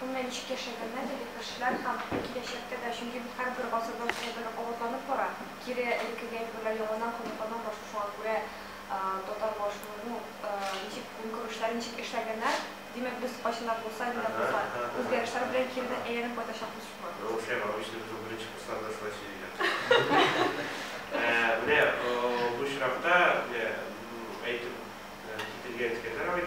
Бу мәнчек яшәгәннән теге кешеләр һәм киләчәктә дә, чөнки бу һәрбер гасырдан шулай гына кабатланып бара, кире элеккегә әйберләр яңадан кабатлана башлый, шуңа күрә татар башының ну, ничек көнкүрешләре ничек эшләгәннәр, димәк, без кайчан да булса, нидә булса, үзгәрешләр белән киредән әйләнеп кайтачакбыз шуңа. Ну, шулай бар, обычно без ул беренче курсларда шулай сөйлиләр. Ә, менә бу очракта, менә әйтеп кителгән секретарь абый,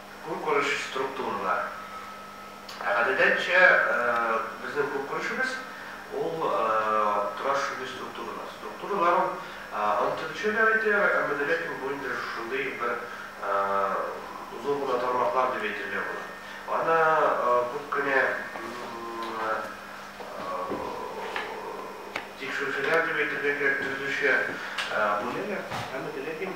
Көнкүреш структуралар. Ә гадәдәнчә безнең көнкүрешебез ул тоташ шундый структурада. Структуралар ул анты төшәләр иде, әмма дә ләкин бу инде шундый бер озын гына тармаклар дип әйтергә була. Аны күп кенә тикшерүчеләр дип әйтергә кирәк, төзүче бүләләр, әмма дә ләкин.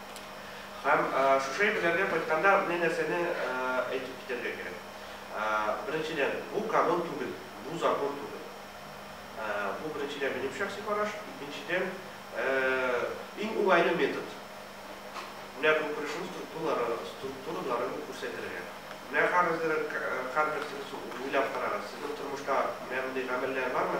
Һәм шушы әйберләргә кайтканда, менә нәрсәне әйтеп китәргә кирәк. Беренчедән, бу канун түгел, бу закон түгел. Бу, беренчедән, минем шәхси караш. Икенчедән, иң уңайлы метод, менә көнкүрешнең структуралары, структураларын күрсәтергә. Менә хәзер һәрбер сез уйлап карагыз, сезнең тормышта менә мондый гамәлләр бармы?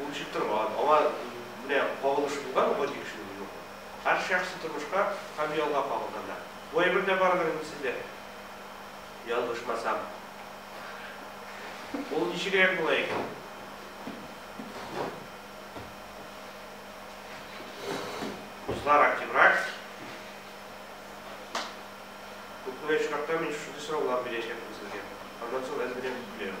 Ул эчеп торган, аңа менә кагылышы булган гади кешенең юк. Һәр шәхси тормышка һәм ялга кагылганнар. Бу әйбер дә бардыр инде сездә, ялгышмасам. Ул ничегрәк була икән? Кызлар активрак. Күп кенә очракта мин шушындый сораулар бирәчәкмен сезгә. Аннан соң әзер генә көләм.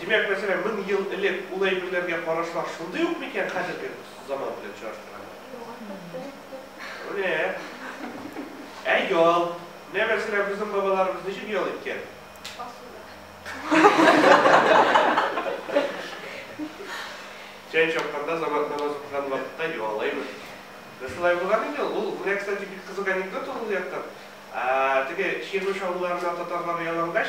Димәк, мәсәлән, мең ел элек ул әйберләргә карашлар шундый ук микән хәзерге заман белән чагыштырганда? Менә. Ә ял? Менә, мәсәлән, безнең бабаларыбыз ничек ял иткән? Чәй чапканда, замат намазы укыган вакытта юалаймы? Менә шулай булган инде ул. Ул, менә, кстати, бик кызык анекдот ул ул яктан. Теге Чирмеш авылларына татарлар ялангач,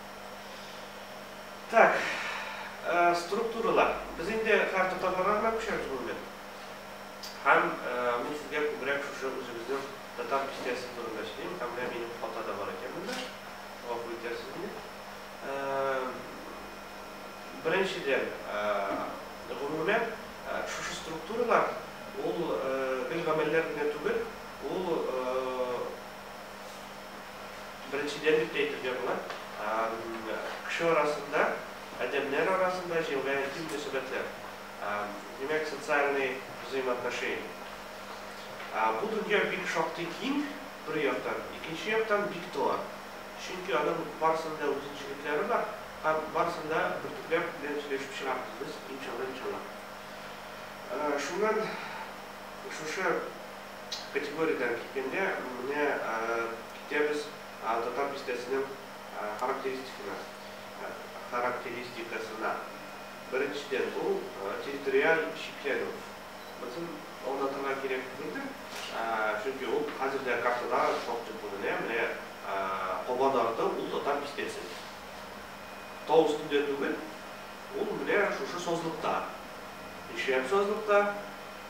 Так, структуралар. Без инде хәр татарларга гына күчәбез бу бүлек. Һәм мин сезгә күбрәк шушы үзебезнең татар бистәсе турында сөйлим, һәм менә минем фото да бар икән монда. Гафу итәрсез мине. Беренчедән, гомумән, шушы структуралар ул гел гамәлләр генә түгел, ул Беренчедән дип тә әйтергә була, кеше арасында, адәмнәр арасында җиңеләя интим мөнәсәбәтләр, димәк, социальные взаимоотношения. Бу дөнья бик шактый киң, бер яктан, икенче яктан, бик тар, чөнки аның барысының да үзенчелекләре бар һәм барысын да бөртекләп белән сөйләшеп чыгарбыз без, иншалла, иншалла. Шуннан шушы Категориядән киткәндә, менә китәбез Татар бистәсенең характеристикына, характеристикасына. Беренчедән, бу территориаль чикләнү. Монысын аңлатырга кирәк түгелдер, чөнки ул хәзер дә картада шактый күренә, менә Кабан арты, ул Татар бистәсе. Тау өстендә түгел, ул менә шушы сазлыкта. Нишләп сазлыкта?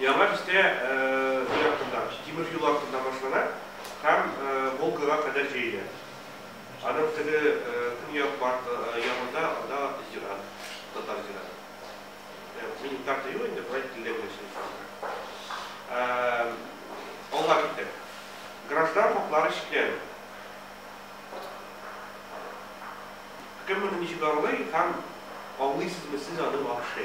Яңа бистә зур ягында, тимер юл артында башлана һәм Волгага кадәр җәелә. Аның теге көньяк ягында анда зират, татар зираты. Минем карта юк инде, болай телдә генә сөйләшәм. Алга китәм. Граждан хаклары чикләнү. Кем моны ничек аңлый һәм аңлыйсызмы сез аны вообще?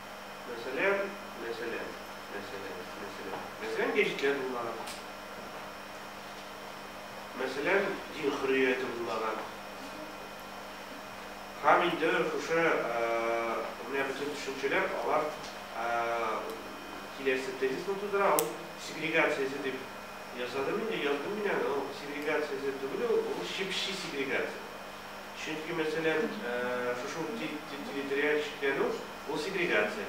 Мәсәлән, мәсәлән, мәсәлән, мәсәлән, мәсәлән, гәҗитләр булмаган. Мәсәлән, дин хөррияте булмаган. Һәм инде шушы менә бөтен төшенчәләр алар киләсе тезисны тудыра, ул сегрегациясе дип ясадым инде, яздым мин аны, ул сегрегациясе түгел ул, ул чеп-чи сегрегация. Чөнки, мәсәлән, шушы ук территориаль чикләнү, ул сегрегация.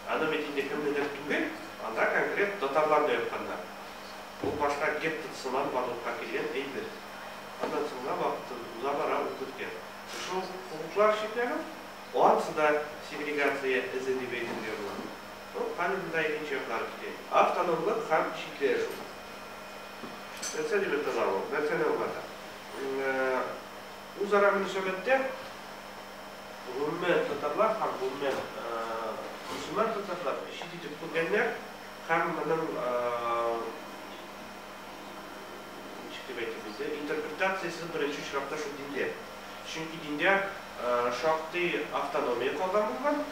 Аны бит инде кемнедер түгел, анда конкрет татарлар да ятканнар. Ул башка геттот сыман барлыкка килгән әйбер. Аннан соңга вакыт уза бара ул беткән. Шушы ук хокуклар чикләнү, ансы да сегрегация эзе дип әйтергә була. Ну, хәзер монда икенче яклар китә. Автономлык һәм чикләшү. Нәрсә дип атала ул? Нәрсәне аңлата? Үзара мөнәсәбәттә гомумән татарлар һәм гомумән мөселман татарлар чит итеп күргәннәр һәм моның ничек дип әйтик бездә интерпретациясе беренче очракта шул диндә. Чөнки диндә шактый автономия калган булган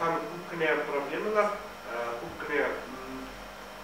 һәм күп кенә проблемалар, күп кенә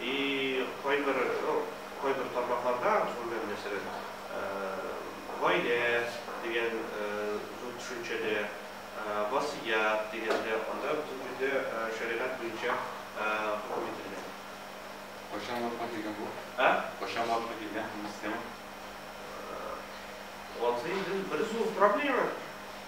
И кайбер, ну, кайбер тармакларда, шунда мәсәлән, гаилә дигән зур төшенчәдә, васыять дигәндә, анда бөтен җирдә шәригать буенча хөкем ителгән. Кайчан вафат икән бу? Ә? Кайчан вафат икән, һәм нисә? Вазыйдел бер зур проблема.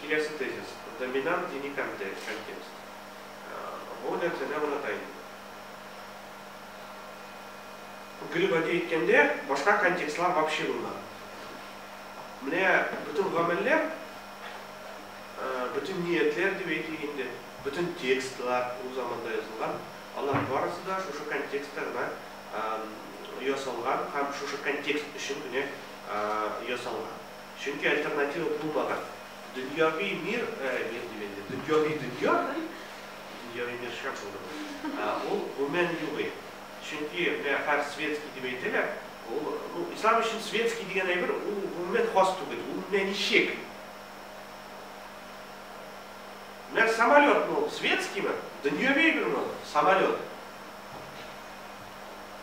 Киләсе тезис, доминант дини контекст. Бу нәрсәне аңлата инде. Гел гади әйткәндә, башка контекстлар вообще булмады. Менә бөтен гамәлләр, бөтен ниятләр дип әйтик инде, бөтен текстлар ул заманда язылган, алар барысы да шушы контекстта гына ясалган һәм шушы контекст өчен генә ясалган. Чөнки альтернатива булмаган. Дөньяви мир, мир дим инде, дөньяви дөнья, дөньяви мир шәп булды бу, ул гомумән югый. Чөнки менә хәр светский дип әйтәләр, ул, ну, ислам өчен светский дигән әйбер, ул гомумән хас түгел, ул менә ничек? Менә самолетмы ул, светскиймы? Дөньяви әйберме ул, самолет?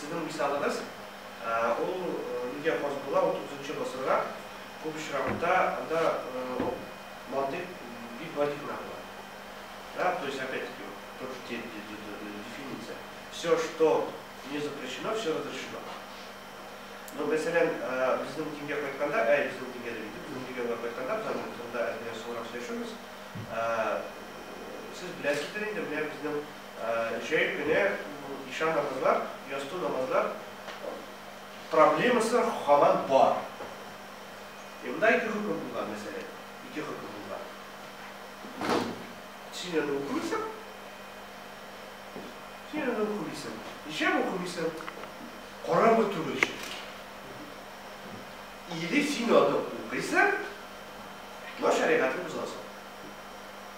Сезнең мисалыгыз, ул нигә хас була, утызынчы гасырга күп очракта анда мантыйк бик гади гына була. Да, то есть опять таки тот же те, те, те, те, дефиниция. Всё, что не запрещено, всё разрешено. Ну, мәсәлән, безнең дингә кайтканда, әй, безнең дингә дим, безнең регионга кайтканда, без аның турында әз-бераз соңрак сөйләшербез. Сез беләсездер инде, менә безнең. Җәй көне ишан намазлар, ястү намазлар проблемасы һаман бар. Е, монда ике хөкем булган мәсьәлә. Ике хөкем булган. Син аны укымыйсың. Син аны укымыйсың. Ишәм укымыйсың. Караңгы түгел ишәм. Или син аны укыйсың, но шәригатен бозасың.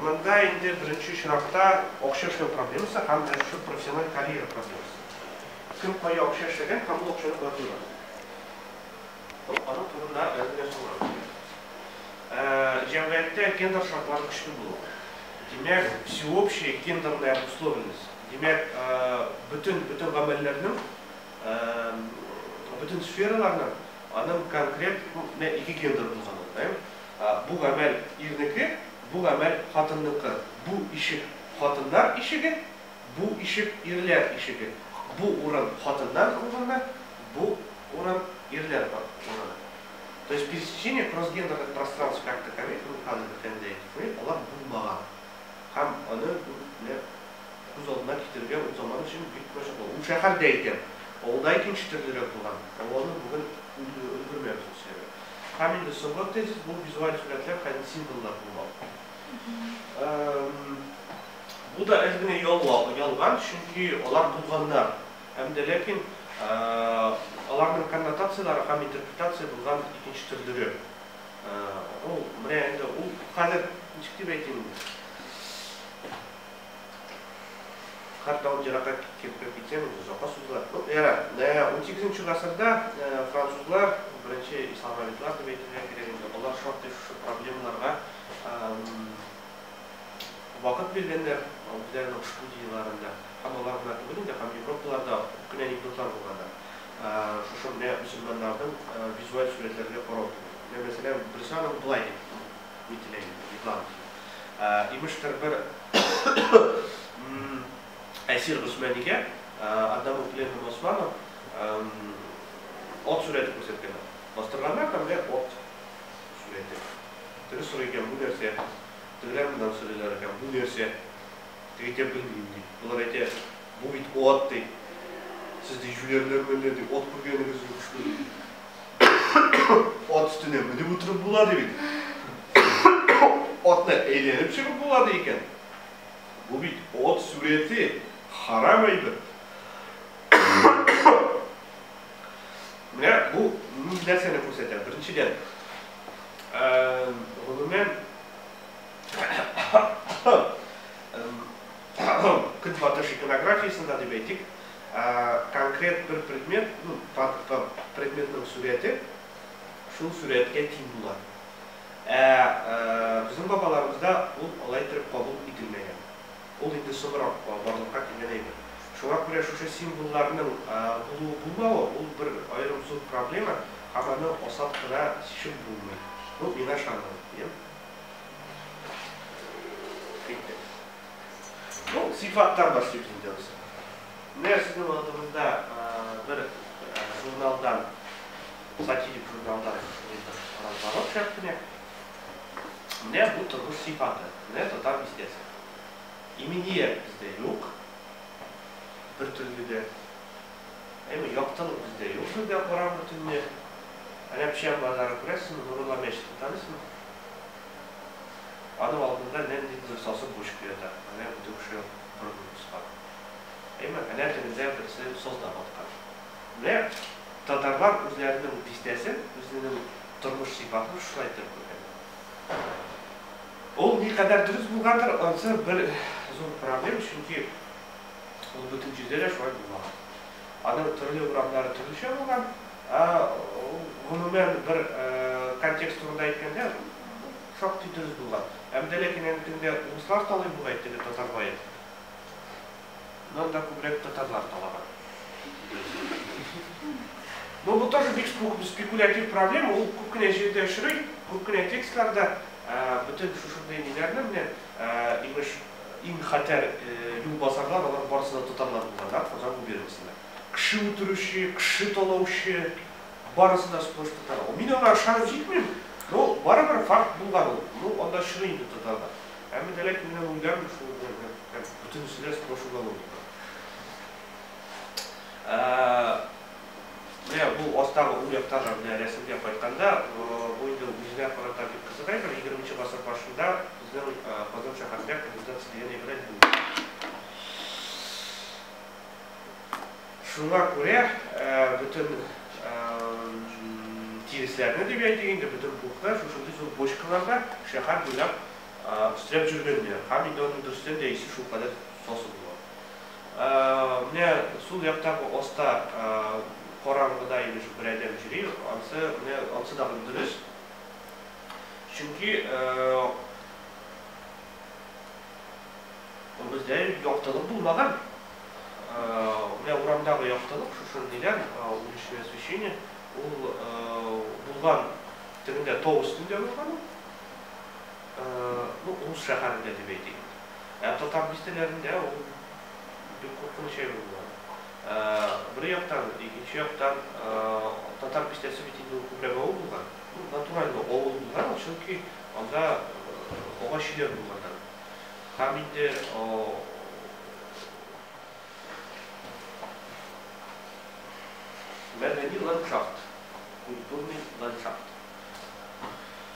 Монда инде беренче чиратта акча эшләү проблемасы һәм менә шушы профессиональ карьера проблемасы. Кем кая акча эшләгән һәм ул акчаны кая куйган. Аның турында әле дә сорау бирә. Җәмгыятьтә гендер шартлары көчле булу. Димәк, всеобщая гендерная обусловленность. Димәк, бөтен бөтен гамәлләрнең, бөтен сфераларның аның конкрет, менә ике гендер булган ул, әйе? Бу гамәл, ирнеке, бу гамәл, хатынныкы, бу ишек, хатыннар ишеге, бу ишек, ирләр ишеге, бу урын, хатыннар урыны, бу урын, ирләр урыны. То есть пересечение кроссгендерных пространств как таковых в Михаил Бехендаевых мыек алар булмаган. Һәм аны бу менә күз алдына китерергә ул заман өчен бик мәшәкатьле. Ул шәһәрдә икән, авылда икенче төрлерәк булган. Һәм аны бүген өлгермәбез, нишләргә. Һәм инде соңгы тезис, бу визуаль сурәтләр хәзер символлар булмак. Бу да әз генә ялган, чөнки алар булганнар. Һәм дә ләкин аларның коннотацияләре һәм интерпретация булган икенче төрлере. Ул менә инде ул хәзер ничек дип әйтим инде? Хәтта ул еракка киткән кереп китсәң, үзе озакка сузыла. Ну, ярар. Ә, унсигезенче гасырда французлар, беренче исламовидлар дип әйтергә кирәк инде, алар шактый шушы проблемаларга вакыт биргәннәр үзләренең студияләрендә. Һәм алар гына түгел инде, һәм Европалар да күп кенә анекдотлар булганнар. Шушы менә мөселманнарның визуаль сурәтләргә карау турында. Менә, мәсәлән, берсе аның болай дип Ни теләгән икән, йоклаган килә. Имештер, бер әсир Госманигә Адам ук Лев һәм Османов ат сурәте күрсәткәннәр. Бастырганнар да менә ат сурәте. Теге сорый икән, бу нәрсә? Тегеләр моннан сорыйлар икән, бу нәрсә? Тик әйтә белмим, ди. Болар әйтә, Бу бит ат, ди. Сез, ди, җүләрләр мәллә, ди, ат күргәнегез юк шул, ди. Ат өстенә менеп утырып була, ди бит. Атны әйләнеп чыгып була, ди икән. Бу бит ат сурәте, харам әйбер. Менә бу ни нәрсәне күрсәтә? Беренчедән, гомумән, Көнбатыш иконографиясендә, дип әйтик, конкрет бер предмет, ну, предметның сурәте шул сурәткә тиң була. Ә безнең бабаларыбызда ул алай иттереп кабул ителмәгән. Ул инде соңрак барлыкка килгән әйбер. Шуңа күрә шушы символларның булуы-булмавы, ул бер аерым зур проблема һәм аны асат кына чишеп булмый. Ну, мин ышанам, дим. Китте. Ну, сифаттан башлыйбыз инде узы. Менә сезнең алдыгызда бер журналдан, сатирик журналдан разворот чыгып кенә. Менә бу тормыш сифаты, менә татар бистәсе. Иминият бездә юк, бер төрле дә. Әйме, яктылык бездә юк бездә, караңгы төнне. Әнә Печән базары күрәсезме, Нурулла мәчетен таныйсызмы? Аның алдында нәндидер сасы почка ята, әнә бу теге кеше борынын кыскан. Әйме, әнә тегендә берсе созда баткан. Менә татарлар үзләренең бистәсен, үзенең тормыш сыйфатын шулай иттереп күргәннәр. Ул никадәр дөрес булгандыр, ансы бер зур проблем, чөнки. Ул бөтен җирдә дә шулай булмаган. Аның төрле урамнары төрлечә булган. Ә гомумән бер контекст турында әйткәндә, шактый дөрес булган. Һәм дә ләкин әнә төнлә урыслар талый бугай, теге татар бае. Монда күбрәк татарлар талаган. Но бу тоже бик спекулятив проблема, ул күп кенә җирдә очрый, күп кенә текстларда бөтен шушындый ниләрне менә Ә, имеш, иң хәтәр юлбасарлар, алар барысы да татарлар булганнар, Казан губерниясендә. Кеше үтерүче, кеше талаучы, барысы да сплошь татарлар. Мин аңа ышанып җитмим, но барыбер факт булган ул. Ну, анда чын инде татарлар. Әмма дә ләкин менә уйлармын шул, бөтенесе дә сплошь уголовниклар. Ә. Менә бу астагы уң яктагы менә рәсемгә кайтканда, бу инде үзенә карата бик кызык әйбер, егерменче гасыр башында безнең Казан шәһәрендә канализация дигән әйбер әле юк иде. Шуңа күрә бөтен тиресләрне дип әйтик инде, бөтен пухны шушындый зур бочкаларда шәһәр буйлап өстерәп җөргәннәр һәм инде аның дөрестән дә исе шулкадәр сасы була. Менә сул яктагы оста караңгыда имеш бер адәм йөри, ансы, менә ансы дагы дөрес. Чөнки бездә яктылык булмаган. Менә урамдагы яктылык шушы дигән уличное освещение ул булган тегендә тау өстендә булган ул. Ну, рус шәһәрендә дип әйтик. Ә татар бистәләрендә ул бик куркыныч әйбер була. Бер яктан, икенче яктан, татар бистәсе бит инде ул күбрәк авыл булган. Ну, натуральный авыл булган ул, чөнки анда агач өйләр булганнар. Һәм инде мәдәни ландшафт, культурный ландшафт.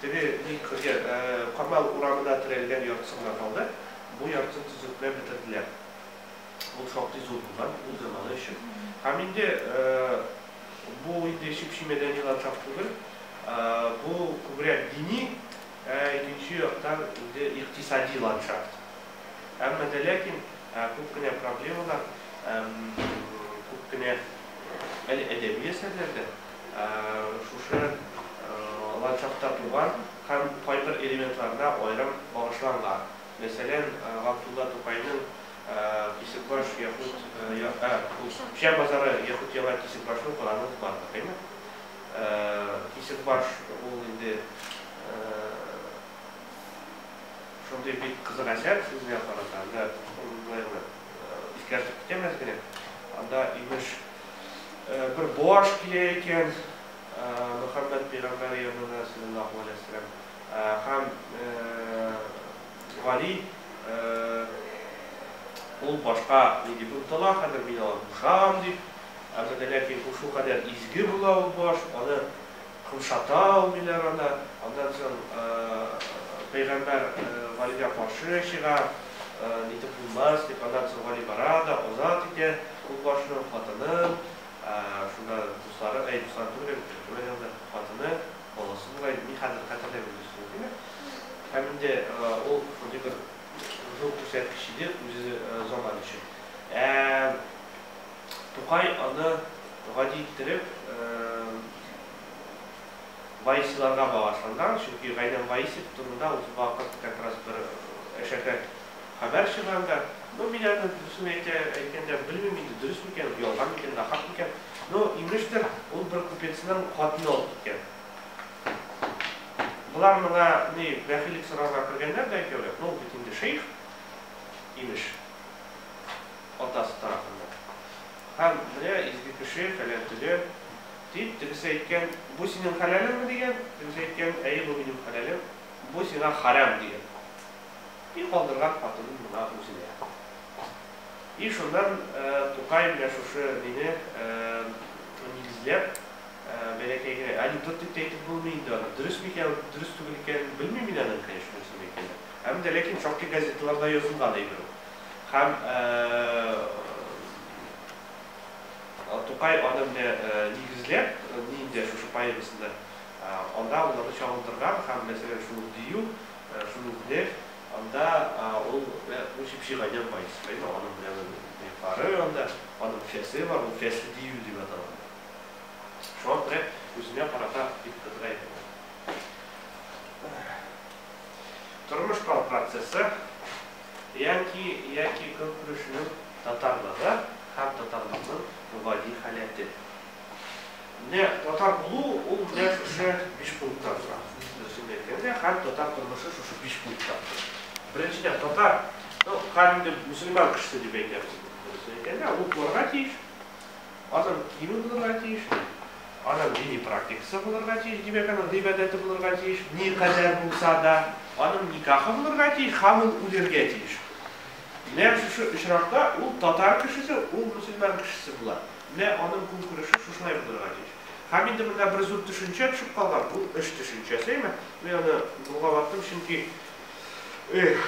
Теге бик кыргый Камал урамына терәлгән яртысын гына калды, бу яртысын төзекләп бетерделәр. Ул шактый зур булган ул заманы өчен. Һәм инде бу инде чеп-чи мәдәни ландшафт түгел, бу күбрәк дини, ә икенче яктан инде икътисади ландшафт. Әмма дә ләкин күп кенә проблемалар, күп кенә Әле әдәби әсәрләрдә шушы ландшафтта туган һәм кайбер элементларына аерым багышланган. Мәсәлән, Габдулла Тукайның Кисекбаш яхуд Печән базары яхуд Яңа Кисекбашны укыганыгыз бардыр, әйме? Кисекбаш ул инде шундый бик кызык әсәр, сүзенә карата, менә шундыйларны. искәртеп китәм әз генә. Анда имеш бер баш килә икән, Мөхәммәд пәйгамбәр янына саллаллаһу алейһи ва саллям һәм Гали ул башка ни дип омтыла, хәзер мин аны кушам дип, әмма ләкин шул кадәр изге була ул баш, аны Кымшата алмыйлар аны. Аннан соң пәйгамбәр Галигә каршы чыга, нитеп булмас дип. Аннан соң Гали бара да азат итә юлбашчының хатынын. Шунда дуслары, әй, дуслары түгел әле, пәйгамбәр янында хатыны, баласы була инде. Мин хәзер хәтерләмим дөресен әйтимме. Һәм инде ул шундый бер зур күрсәткеч иде үзе заманы өчен. Ә. Тукай аны гади иттереп Ваисиларга багышланган, чөнки Гайнан Ваисев турында ул вакыт как раз бер әшәке хәбәр чыган да. Ну, мин аны, дөресен әйтә, әйткәндә, белмим инде, дөрес микән ул, ялган микән, нахак микән. Ну, имештер, ул бер купецның хатыны алып киткән. Болар моңа ни бәхиллек сорарга кергәннәр дә икәүләп, ну, бит инде шейх, имеш. атасы тарафында. Һәм, менә изге кеше, фәлән төгән, дип, тегесе әйткән, бу синең хәләлеңме, дигән, тегесе әйткән, әйе, бу минем хәләлем, бу сиңа хәрам, дигән. И калдырган хатынын моңа үзенә. И шуннан Тукай менә шушы мине нигезләп, бәләкәй генә, әле тот дип тә әйтеп булмый инде аны, дөресме икән, дөрес түгел икәнен белмим мин аның, конечно, дөресме икәнен, һәм дә ләкин шактый газеталарда язылган әйбер ул. Һәм Тукай аны менә нигезләп, нинди шушы поэмасында, анда аларны чагылдырган һәм, мәсәлән, шул ук дию, шул ук неф, анда ул бу чеп-чи гайнән бай схема, аның белән нефары анда, аның фәсе бар, ул фәсле дию дип атала. Шуңа күрә үзенә карата бик кыдыра иде ул. Тормыш процессы. Янки яки көнкүрешнең татарлыгы һәм татарлыкның гади халәте. Менә татар булу ул менә шушы биш пункттан тора. Дөресен әйткәндә, һәр татар тормышы шушы биш пункттан тора. Беренчедән, татар, ну, һәр инде мөселман кешесе дип әйтәбез инде, дөресен әйткәндә, ул кылырга тиеш. Аның киеме булырга тиеш, аның дини практикасы булырга тиеш, димәк, аның гыйбадәте булырга тиеш, никадәр булса да, аның никахы булырга тиеш һәм ул үлергә тиеш. Менә шушы очракта ул татар кешесе, ул мөселман кешесе була. Менә аның көнкүреше шушылай булырга тиеш. Һәм инде монда бер зур төшенчә төшеп калган, бу эш төшенчәсе. Мин аны болгаваттым, чөнки, эх,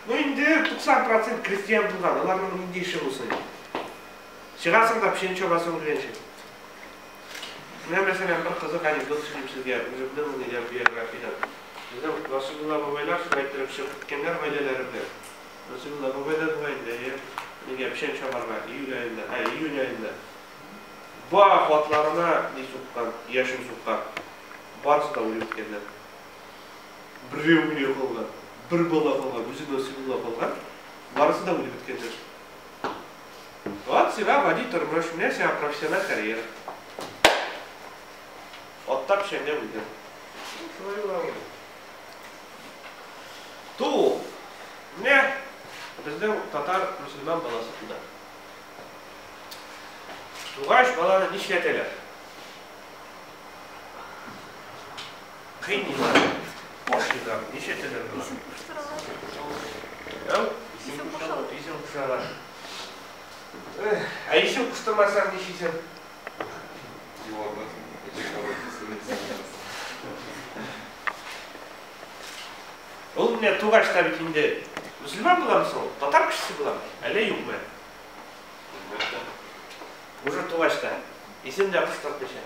ну инде 90 процент крестьян булган, аларның нинди эше булсын инде. Чыгасың да пшени чабасың үлгәнче. Менә мәсәлән бер кызык анекдот сөйлим сезгә үземнең нидән биографиядән. Безнең Расыйбулла бабайлар шулай иттереп чыгып киткәннәр гаиләләре белән. Расыйбулла бабай да була инде, әйе. Нигә пшән чабарга июль аенда, ә июнь аенда. Бах, атларына ни суккан, яшен суккан. Барысы да үлеп беткәннәр. Берәү генә калган, бер бала калган, үзе Насыйбулла калган. Барысы да үлеп беткәннәр. Вот сиңа гади тормыш, менә сиңа профессиональ карьера. Атта печәнгә бүлгән. Шулай була ул. Туу. Менә безнең татар мөселман баласы туды. Тугач баланы нишләтәләр? Кыйныйлар, ашыйлар, ничә теләр була? Исем куштыралар. Исем куштыралар. Исем куштыралар. Ә исем куштырмасаң ничисең? Ул менә тугач та бит инде мөселман буламы соң? Татар кешесе буламы? Әллә юкмы? Уже тугач та. Исем дә куштыртмыйча.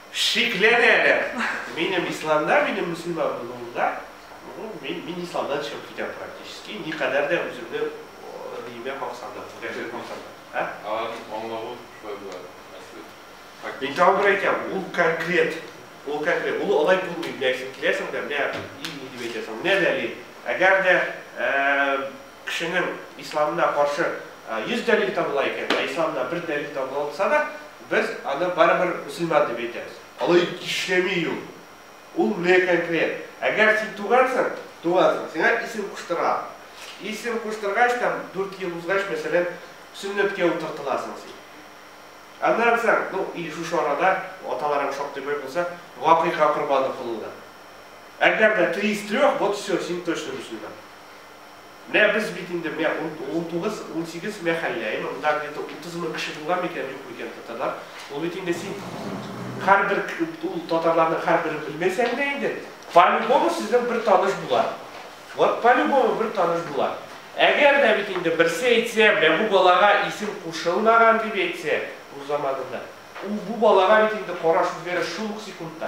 Шикләнәләр. Минем исламда, минем мөселман булуымда, мин, мин исламдан чыгып китәм практически, никадәр дә үземне диемә калсам да, күрәсәк булсам да. Аларның аңлавы шулай була, мәсәлән. Мин тагын бер әйтәм, ул конкрет, ул конкрет, ул алай булмый, менә син киләсең дә, менә ил ни дип әйтәсең, менә дәлил, әгәр дә, Кешенең исламына каршы 100 дәлил табыла икән, ә исламына бер дәлил табылса да, без аны барыбер мөселман дип әйтәбез. Алай эшләми ул. Ул менә конкрет. Әгәр син тугансың, тугансың, сиңа исем куштыралар. Исем куштыргач, там дүрт ел узгач, мәсәлән, сөннәткә утыртыласың син. Аннан соң, ну, или шушы арада, аталарың шактый бай булса, гакыйка корбаны кылулар. Әгәр дә три из трех, вот все, син точно мөселман. Мә без бит инде мә унтугыз, унсигез мә хәлләй, монда где-то утыз мең кеше булган микән, юк микән татарлар. Ул бит инде син һәрбер ул татарларның һәрберен белмәсәң дә инде, по-любому сезнең бер таныш була. Вот по-любому бер таныш була. Әгәр дә бит инде берсе әйтсә, мә бу балага исем кушылмаган дип әйтсә, рус заманында, ул бу балага бит инде караш үзгәрер шул ук секундта.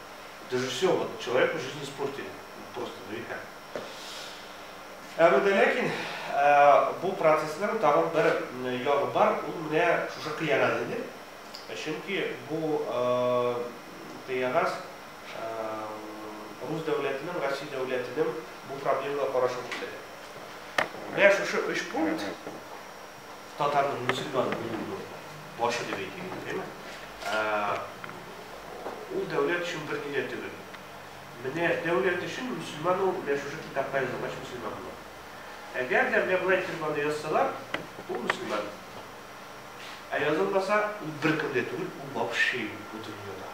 Это же все, вот человеку жизнь испортили. Просто, ну и как. Әмәдә ләкин э, бу процессның тагын бер э, ягы бар, ул менә шушы кыягаз иде. Э, чөнки бу кыягаз рус дәүләтенең, Россия дәүләтенең бу проблемага карашын күрсәтә. Менә шушы өч пункт Татарның мөселман булуының башы дип әйтик инде, дәйме? Ул дәүләт өчен берни дә түгел. Менә дәүләт өчен мөселман ул менә шушы китапка язылгач мөселман була. Әгәр дә менә болай итеп аны язсалар, ул мөселман. Ә язылмаса, ул беркем дә түгел, ул вообще юк бу дөньяда.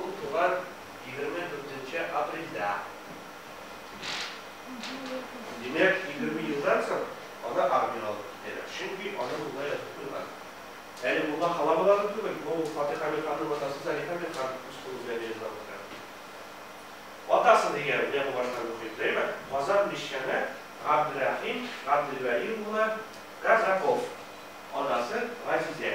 Ул туган егерме дүртенче апрельдә. Димәк, егерме елдан соң аны армиягә алып китәләр. Чөнки аны мулла язып куйган. Әле мулла халамыга да түгел, бу Фатыйха Мирханның атасы Зарифа Мирхан үз кулы белән язган хәл. Атасы дигән, менә бу башта мөхит, әйме? Казан мичкәне Габдрәхим Габделвәли улы Казаков, анасы Газизә.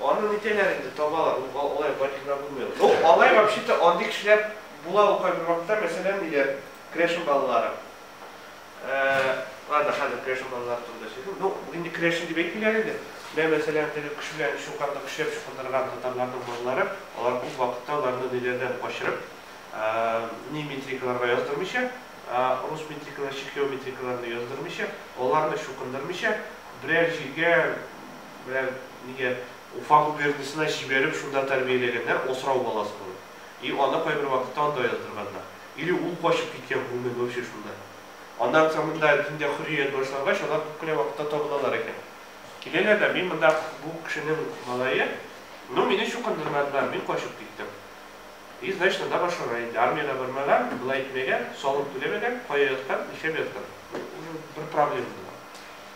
Аны нитәләр инде, табалар, ул алай бай кешеләр булмыйлар. Ну, алай вообще-то андый кешеләр була ул кайбер вакытта, мәсәлән, ниләр, Крешен балалары. Ә, ладно, хәзер Крешен балалары турында сөйлим. Ну, инде Крешен дип әйтмиләр инде. Менә, мәсәлән, теге көч белән чукарда көчләп чукындырган татарларның балалары, алар күп вакытта аларны ниләрдән качырып, ә, ни метрикаларга яздырмыйча, ә, рус метрикалары, чехио метрикаларына яздырмыйча, аларны чукындырмыйча, берәр җиргә, Менә нигә Уфа губерниясенә җибәреп шунда тәрбияләгәннәр, асрау баласы булып. И аны кайбер вакытта анда яздырганнар. Или ул качып киткән гомумән вообще шунда. Аннан соң монда диндә хөррият башлангач, алар күп кенә вакытта табыналар икән. Киләләр дә, мин монда бу кешенең малае, ну мине чукындырмадылар, мин качып киттем. И значит анда башланган инде, армиягә бармаган, болай итмәгән, салым түләмәгән, кая яткан, нишләп яткан. Бу уже бер проблема була.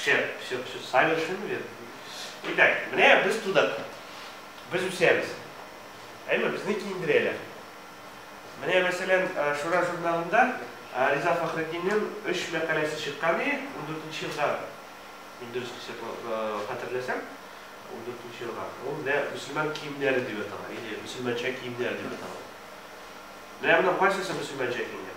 Шәп, шәп, шәп, Саймон Шиммелер. Итак, менә без тудык. Без үсәбез. Әйме, безне киендерәләр. Менә, мәсәлән, Шура журналында Риза Фәхретдиннең өч мәкаләсе чыккан иде, 14 елга, мин дөрес хәтерләсәм, 14 елга. Ул менә мөселман киемнәре дип атала, или мөселманча киемнәр дип атала. Менә моның кайсысы мөселманча киемнәр?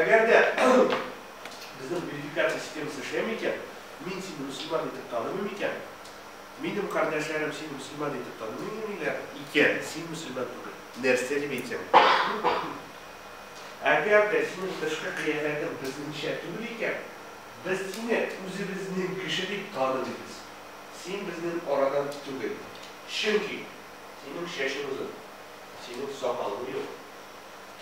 Әгәр дә безнең верификация системасы эшләми икән, мин сине мөселман итеп танымыйм икән, минем кардәшләрем сине мөселман итеп танымыйлар икән, син мөселман түгел. Нәрсә дип әйтсәң. Әгәр дә синең тышкы кыяфәтең безнеңчә түгел икән, без сине үзебезнең кеше дип танымыйбыз. Син безнең арадан түгел. Чөнки синең чәчең озын, синең сакалың юк.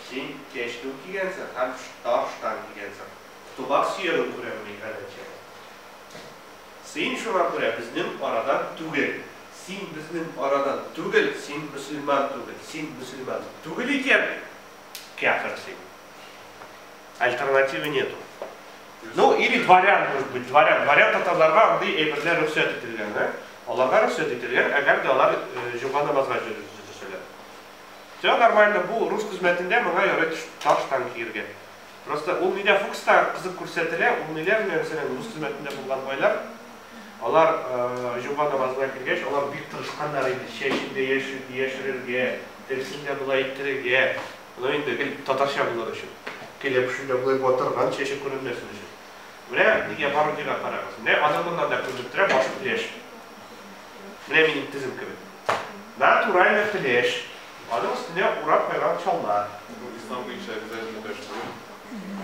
Син кәчтүм кигәнсең һәм тар штан кигәнсең. Тубал сөягең күренми, Галәче. Син шуңа күрә безнең арадан түгел. Син безнең арадан түгел, син мөселман түгел. Син мөселман түгел икән, кяфер син. Альтернативы нету. Ну, или дворян, может быть, дворян. Дворян татарларга андый әйберләр рөхсәт ителгән, ә? Аларга рөхсәт ителгән, әгәр дә алар җомга намазга җөрү төзелсәләр. Всё нормально, бу рус хезмәтендә моңа ярый таш-тан киергә. Просто ул нидә фукста кызык күрсәтелә, ул ниләр менә мәсәлән рус хезмәтендә булган байлар, алар җомга намазына кергәч, алар бик тырышканнар иде, чәчен дә яшерергә, тегесен дә болай иттерергә, ну инде гел татарча булыр өчен, кәләпүшен дә болай батырган, чәче күренмәсен өчен. Менә нигә Баругига карагыз, менә аның моннан да күренеп тора, башы пляж. Менә минем тезем кебек. Натуральный флеш. Аның өстенә урап куйган чалма. Бу ислам буенча обязательно флеш кую.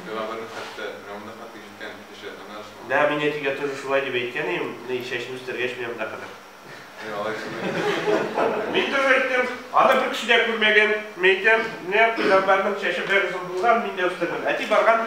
Пәйгамбәрнең хәтта менә монда хәтле җиткән кеше ана өчен. Да, мин әтигә тоже шулай дип әйткән идем, ни, чәчне үстергәч менә монда кадәр. Әй, алай шулай. Мин тоже әйттем, аны бер кеше дә күрмәгән, мәйтәм, менә пәйгамбәрнең чәче бер озын булган, мин дә үстердем. Әти барган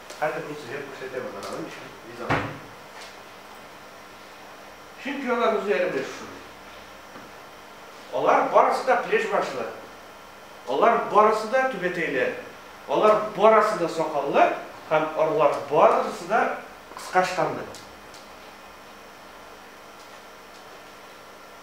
Хәзер мин сезгә күрсәтәм аны, аның өчен ризамы? Чөнки алар үзләре белән шушындый. Алар барысы да плешбашлы. Алар барысы да түбәтәйләр. Алар барысы да сакаллы һәм алар барысы да кыска штанлы.